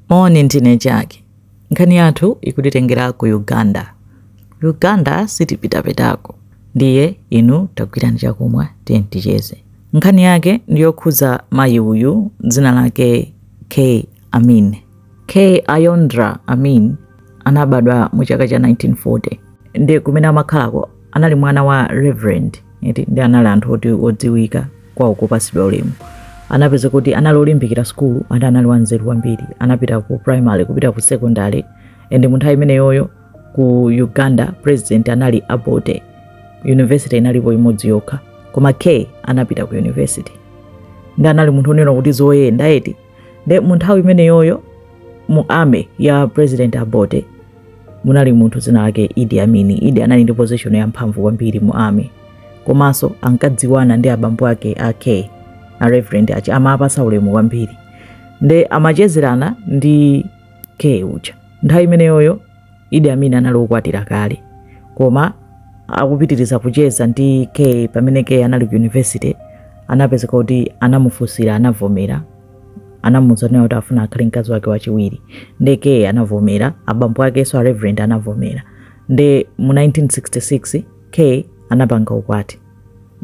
Moni ndine Jack. Nkhani yathu ikutitengera ku Uganda. Ku Uganda sitipitapitako. Ndiye inu tagwirani chakumwa tiye ticheze. Nkhani yake ndi yokhudza mayi uyu dzina lake K Amin. K Ayondra Amin anabadwa mu chaka cha 1940 ndi kumene amakhalako anali mwana wa reverend eti ndi anali anthu oti odziwika kwawo kupatsidwa ulemu anapeza kuti anali olimbikira sukulu andi anali wanzeru kwambiri anapita ku primary kupita ku secondary and mu nthawi imeneyoyo ku uganda president anali Obote university inalipo imodzi yokha koma k anapita ku university ndi anali munthu onena kuti zoyenda eti nde mu nthawi imeneyoyo mu army ya president Obote munali munthu dzina lake idi amin idi anali ndi position yamphamvu kwambiri mu army komanso ankadziwana ndi abambo ake a k a reverend aja amawapatsa ulemu kwambiri nde amachezerana ndi k uja nthawi imeneyoyo idi amin anali okwatira kale koma akupitiriza kucheza ndi k pamene k anali ku university anapezeka kuti anamufunsira anavomera anamuuzanso kuti afuna akhale mkazi wake wachiwiri nde k anavomera abambo akenso a reverend anavomera nde mu 1966 k anapanga ukwati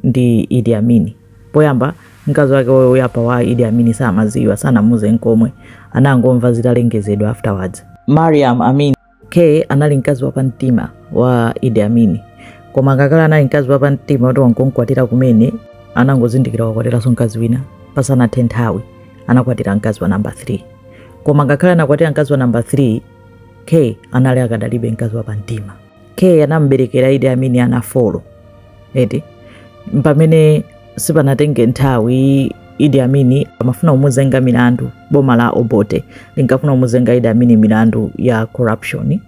ndi idi amin poyamba mkazi wake woyamba wa idi amin samadziwa sanamuze nkomwe anangomva zitalengezedwa afterwards mariam amin k anali mkazi wa pamtima wa idi amin koma ngakhale anali mkazi wa pamtima kuti wangomkwatira kumene anangozindikira wakwatiranso mkazi wina pasanathe nthawi anakwatira mkazi wa namba 3 koma ngakhale anakwatira mkazi wa namba 3 k anali akadalibe mkazi wa pamtima k anamberekera idi amin ana folo eti pamene sipanatenge nthawi idi amin amafuna kumuzenga milandu boma la obote linkafuna kumuzenga idi amin milandu ya corruption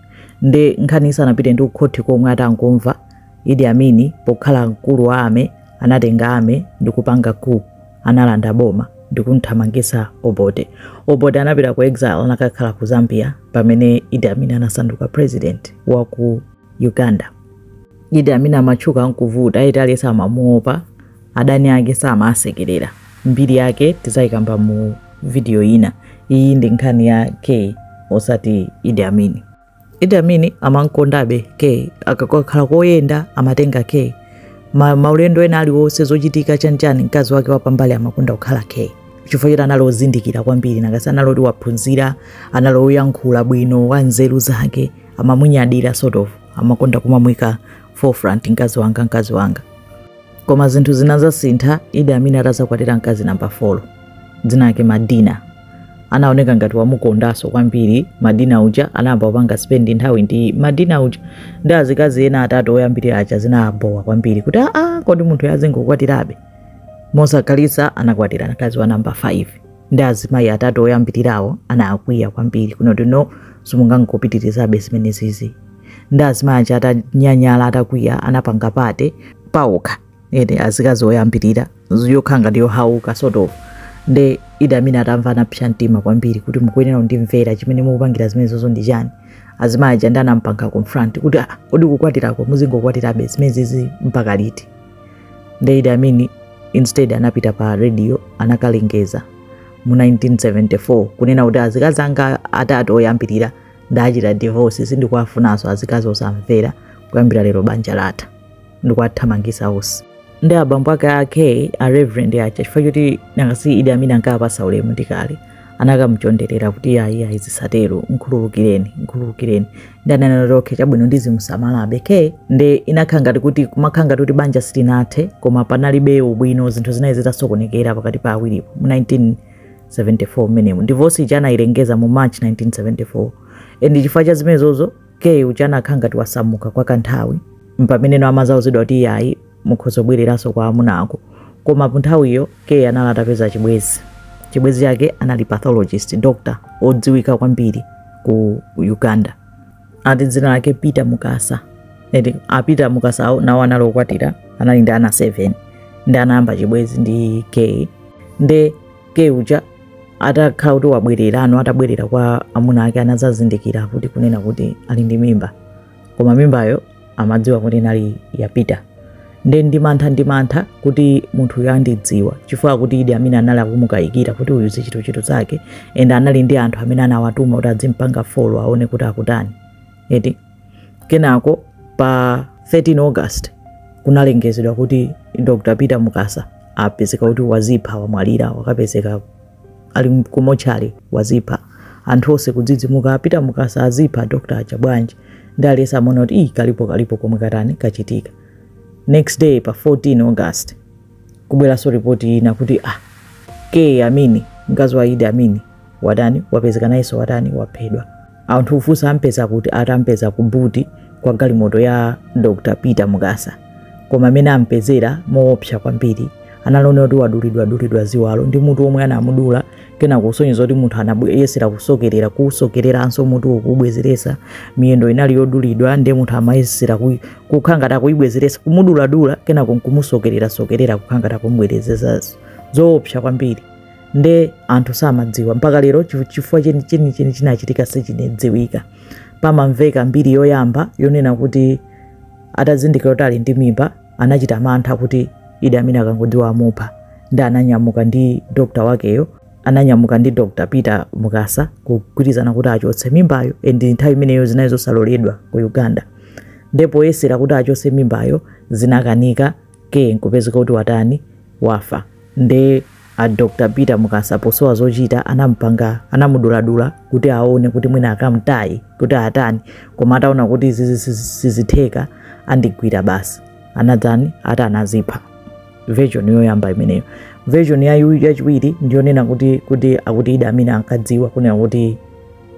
nde nkhani isanapite ndi kukhoti komwe atangomva idi amin pokhala mkulu wa army anatenga army ndi kupanga coup analanda boma ndikumthamangitsa obote obote anapita ku exile anakakhala ku zambia pamene idi amin anasanduka president wa ku uganda idi amin amatchuka nkuvuta eti aliyense amamuopa adani ake samawasekerera mbiri yake tidzayikamba mu video ina iyi ndi nkhani ya k osati idi amin Idi Amin amamkondabe K akakhala koyenda amatenga K ma, maulendo ena aliwonse zochitika chanichani mkazi wake wapambali amakonda kukhala K chifukwa choti anali ozindikira kwambiri nanga si anali oti waphunzira anali oyankhula bwino wa nzeru zake amamunyadira sort of amakonda kumamwika forefront mkazi wanga mkazi wanga koma zinthu zinadzasintha Idi Amin atadzakwatira mkazi namba 4 dzina lake Madina anaoneka ngati wamukondanso kwambiri madina uja anayamba kupanga spend nthawi ndi madina uja ndi azikazi ena atatu oyambirira aja zinabowa kwambiri kuti aa kodi munthu azingokwatirabe mosakhalisa anakwatira mkazi wa namba 5 ndi azimayi atatu oyambirirawo anakwiya kwambiri kunoti no simungangopitirizabe zimenezizi ndi azimayi aja atanyanyala atakwiya anapanga party paokha ene azikazi oyambirira yokhala ngati yohauka sort of nde idi amin atamva anapsa mtima kwambiri kuti mukuyenera kundimvera chimene mukupangira zimenezozo ndi chani azimayi aja ndi anampanga confront kuti "Ah, kodi kukwatirako muzingokwatirabe zimenezi mpaka liti nde idi amin instead anapita pa radio anakalengeza mu 1974 kunena kuti azikazi anga atatu oyambirira ndachita divorce sindikuwafunanso azikazi osamvera kuyambira lero banja latha ndikuwathamangisa onse ndi abambo ake a kay a reverend aja chifukwa choti nangasi idi amin ankapasa ulemu ndi kale anakamchonderera kuti ayi ayi zisatero mkhululukireni mkhululukireni ndi ananena kuti okay chabwino ndizimusamalabe kay nde inakhala ngati kuti kumakhala ngati kuti banja silinathe koma panalibe ubwino zinthu zinali zitasokonekera pakati pa awiripo mu 1974 mmenemo divorce ija anayilengeza mu march 1974 and chifukwa cha zimenezozo kay uja anakhala ngati wasamuka kwa kanthawi mpameneno amazauzidwa kuti iyayi mukhoza kubwereranso kwa amuna ako koma panthawiyo kay anali atapeza chibwezi chibwezi chake anali pathologist doctor odziwika kwambiri ku uganda ati dzina lake peter mukasa eti a peter mukasawo nawo anali okwatira anali ndi ana 7 ndi anayamba chibwezi ndi kay nde kay uja atakhala kuti wabwererano atabwerera kwa amuna ake anadzazindikira kuti kunena kuti ali ndi mimba koma mimbayo amadziwa kuti inali ya peter nde ndi mantha ndi mantha kuti munthuyu andidziwa chifukwa kuti idi amin anali akumukayikira kuti uyu zichitochito zake and anali ndi anthu amene anawatuma kuti adzimpanga follow aone kuti akutani eti kenako pa 13 august kunalengezedwa kuti dr peter mukasa apezeka kuti wazipha wamwalira wakapezeka ali ku mortuary wazipha anthu onse kudzidzimuka a peter mukasa azipha dr aja bwanji ndi aliyense amaona kuti iyi kalipo kalipo komwe katani kachitika next day pa 14 august kubweranso ripoti ina kuti ah kay amini mkazi wa idi amini watani wapezeka nayenso watani waphedwa anthu ufunsa ampeza kuti atampeza ku buti kwa galimoto ya dr peter mukasa koma mmene anampezera moopsa kwambiri anaona kuti wadulidwadulidwa ziwalo ndi mutu omwe anamudula kena kusonyeza kuti munthu anayesera kusokerera kusokereranso mutu kuubwezeresa miyendo inali yodulidwa ndi munthu amayesera kui- kukhala ngati akuyibwezeresa kumuduladula kenako nkumusokererasokerera kukhala ngati akumubwerezeza zoopsa kwambiri nde anthu samadziwa mpaka lero chifu- chifukwa cheni- chenicheni chinachitika sichinedziwika pamamveka mbiri yoyamba yonena kuti atazindikira kuti ali ndi mimba anachita mantha kuti idi amin akangodziwa amupha nde ananyamuka ndi dokta wakeyo ananyamuka ndi dr peter mukasa kugwirizana kuti achotse mimbayo and nthawi imeneyo zinali zosaloledwa ku uganda nde poyesera kuti achotse mimbayo zinakanika ke nkupezeka kuti watani wafa nde a dr peter mukasa posowa zochita anampanga anamuduladula kuti aone kuti mwina akamtaye kuti atani koma ataona kuti izizi sizi- sizitheka andigwira basi anadzani atani anazipha version yoyamba imeneyo version ya- yachiwiri ndiyonena kuti kuti akuti idi amin ankadziwa kunena kuti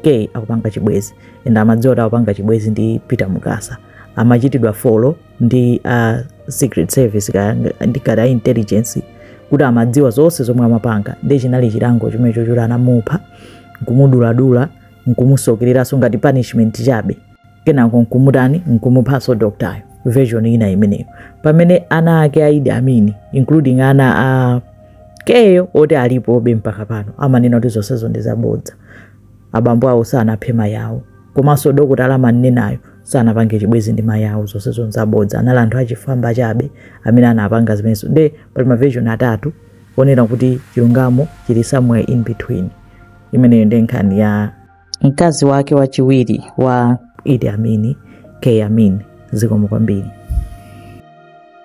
kay akupanga chibwezi and amadziwa kuti akupanga chibwezi ndi peter mukasa amachitidwa follow ndi a uh, secret service kaya ndi kaya intelligence kuti amadziwa zonse zomwe amapanga nde chinali chilango chimenecho choti anamupha nkumuduladula nkumusokereranso ngati punishment chabe kenako nkumutani nkumuphanso doktayo version ina imeneyo pamene ana ake a idi amin including ana a kay yo oti alipobe mpaka pano amanena kuti zonsezo ndi zabodza abambo awo sanaphe mayi awo komanso dokotala amanenayo sanapange chibwezi ndi mayi awo zonsezo nzabodza anali anthu achifwamba chabe amene anapanga zimenezo nde pali maversion atatu poonera kuti chilungamo chili somewhere in between imeneyo ndi nkhani ya mkazi wake wachiwiri wa idi amin kay amin zikomo kwambiri